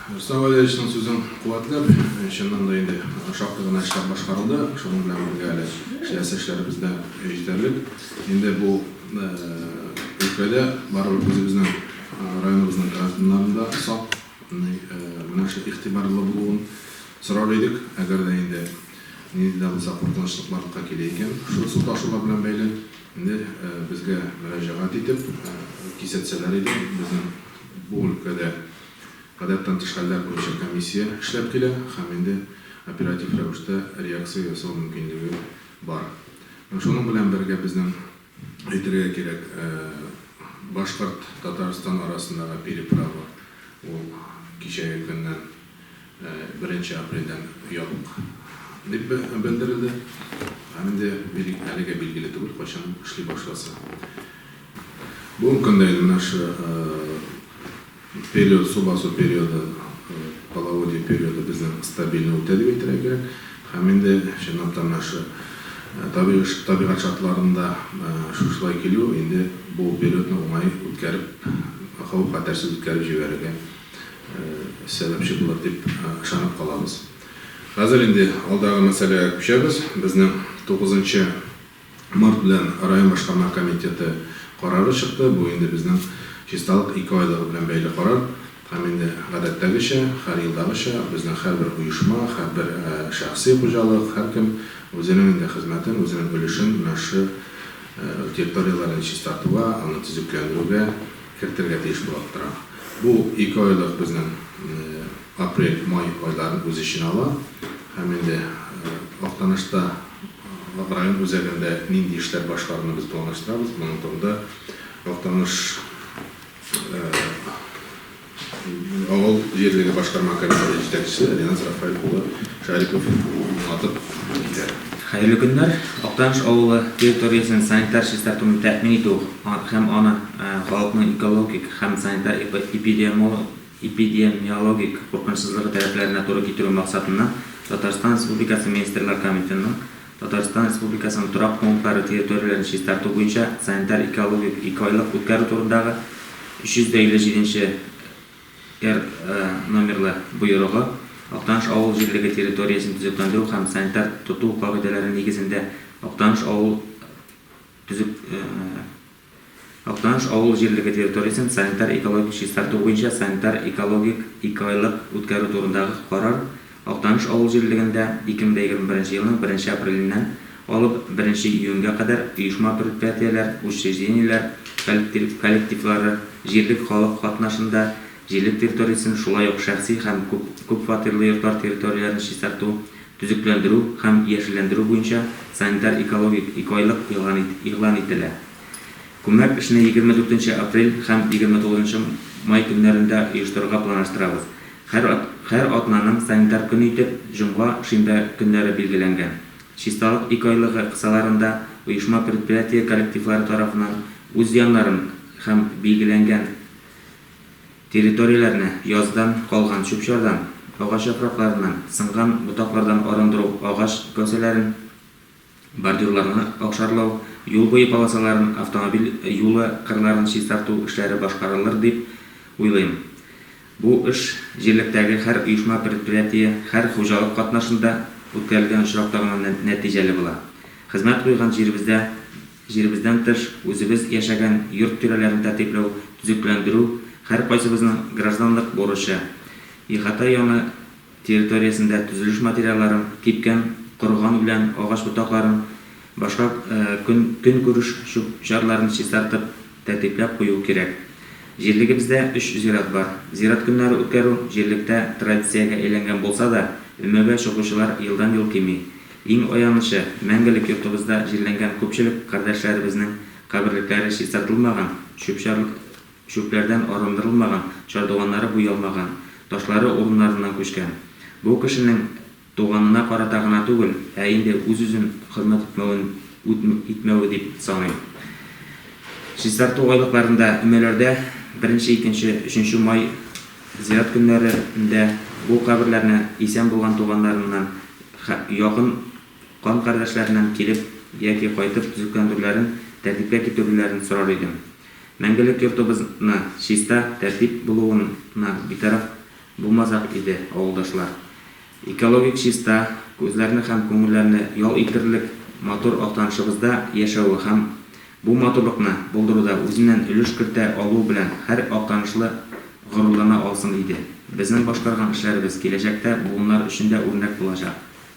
Рөстәм Валерьевичның сүзен куәтләп, чыннан да инде шактый гына эшләр башкарылды, шуның белән бергә әле эшләсе эшләребез дә җитәрлек. Инде бу өлкәдә барыбер үзебезнең районыбызның гражданнарын да сак, менә шул игътибарлы булуын сорар идек. Әгәр дә инде нинди дә булса куркынычлык барлыкка килә икән, шул су ташулар белән бәйле. Инде безгә мөрәҗәгать итеп кисәтсәләр иде. Безнең бу өлкәдә гадәттән тыш хәлләр буенча комиссия эшләп килә һәм инде оператив рәвештә реакция ясау мөмкинлеге бар. Һәм шуның белән бергә безнең әйтергә кирәк, башкорт, Татарстан арасындагы переправа ул кичәге көннән, беренче апрельдән ябык дип белдерелде. Һәм инде бирик әлегә билгеле түгел, кайчан эшли башласы. Бүгенге көндә инде менә шы период, су басу периоды, половодье периоды безнең стабильно үтә дип әйтергә кирәк. Һәм инде чынлап та менә шы табигать шартларында шушылай килү инде бу периодны уңай үткәреп, хәвеф-хәтәрсез үткәреп җибәрергә сәбәпче булыр дип ышанып калабыз. Хәзер инде алдагы мәсьәләгә күчәбез. Безнең тугызынчы март белән район башкарма комитеты карары чыкты. Бу инде безнең чисталык ике айлыгы белән бәйле карар һәм инде гадәттәгечә, һәр елдагыча безнең һәрбер оешма, һәрбер шәхси хуҗалык, һәркем үзенең инде хезмәтен, үзенең өлешен, өлешен территорияләрен чистартуга, аны төзекләндерүгә, кертергә тиеш булып тора. Бу ике айлык безнең апрель, май айларын үз эченә ала. Һәм инде Актанышта район үзәгендә нинди эшләр башкаруны без планлаштырабыз, моның турында Актаныш авыл җирлеге башкарма комитеты җитәкчесе Риназ Рафаэль улы Шәрипов уңатып китә. Хәерле көннәр! Актаныш авылы территориясен санитар чистартуны тәэмин итү һәм аны халыкның экологик һәм санитар-эпидемиологик куркынычсызлыгы таләпләренә туры китерү максатыннан Татарстан Республикасы Министрлар Комитетының Татарстан Республикасының торак пунктлары территорияләрен чистарту буенча санитар-экологик икеайлык үткәрү турындагы 357 нче Р номерлы боерыгы Актаныш авыл җирлеге территориясен төзекләндерү һәм санитар тоту кагыйдәләре нигезендә Актаныш авыл төзек Актаныш авыл җирлеге территориясен санитар-экологик чистарту буенча санитар-экологик ике айлык үткәрү турындагы карар Актаныш авыл җирлегендә 2021 елның 1 апреленнән алып 1 июньгә кадәр оешма-предприятиеләр, учреждениеләр коллективлары, җирлек халык катнашында җирлек территориясен, шулай ук шәхси һәм күпфатирлы йортлар территорияләрен чистарту, төзекләндерү һәм яшелләндерү буенча санитар-экологик икеайлык игълан ителә. Күмәк эшне 24 апрель һәм 29 май көннәрендә оештырырга планлаштырабыз. Һәр һәр атнаның санитар көне итеп җомга, шимбә көннәре билгеләнгән. Чисталык ике айлыгы кысаларында оешма-предприятие коллективлары тарафыннан үз яннарын һәм билгеләнгән территорияләрне яздан калган чүп-чардан, агач яфракларыннан, сынган ботаклардан арындыру агач кәүсәләрен, Бордюрларны акшарлау, юл буе полосаларын, автомобиль юлы кырларын чистарту эшләре башкарылыр дип уйлыйм. Бу эш җирлектәге һәр оешма-предприятие, һәр хуҗалык катнашында үткәрелгән очракта гына нәтиҗәле була. Хезмәт куйган җиребездә, җиребездән тыш, үзебез яшәгән йорт тирәләрен тәртипләү, төзекләндерү, һәркайсыбызның гражданлык бурычы. Ихата яны. территориясендә төзелеш материалларын, кипкән, корыган үлән, агач ботакларын, башка көнкүреш чүп-чарларын чистартып, тәртипләп кую кирәк. Җирлегебездә өч зират бар. Зират көннәре үткәрү җирлектә традициягә әйләнгән булса да, өмәгә чыгучылар елдан-ел кими. Иң аянычы, мәңгелек йортыбызда җирләнгән күпчелек кардәшләребезнең каберлекләре чистартылмаган, чүп-чар Чүпләрдән арындырылмаган, чардуганнары буялмаган, ташлары урыннарыннан күчкән. Бу кешенең туганына карата гына түгел, ә инде үз-үзен хезмәт итмәвен үт итмәве дип саныйм. Чистарту айлыкларында, өмәләрдә беренче, икенче, өченче май зират көннәре ндә бу каберләрне исән булган туганнарыннан, хә якын кан кардәшләреннән килеп яки кайтып төзекләндерүләрен, тәртипкә китерүләрен сорар идем. Мәңгелек йортыбызны чиста, тәртип булуына битараф булмасак иде, авылдашлар. Экологик чиста, күзләрне һәм күңелләрне ял итерлек матур Актанышыбызда яшәве һәм бу матурлыкны булдыруда үзеннән өлеш кертә алуы белән һәр актанышлы горурлана алсын иде. Безнең башкарган эшләребез киләчәктә буыннар өчен дә үрнәк булачак.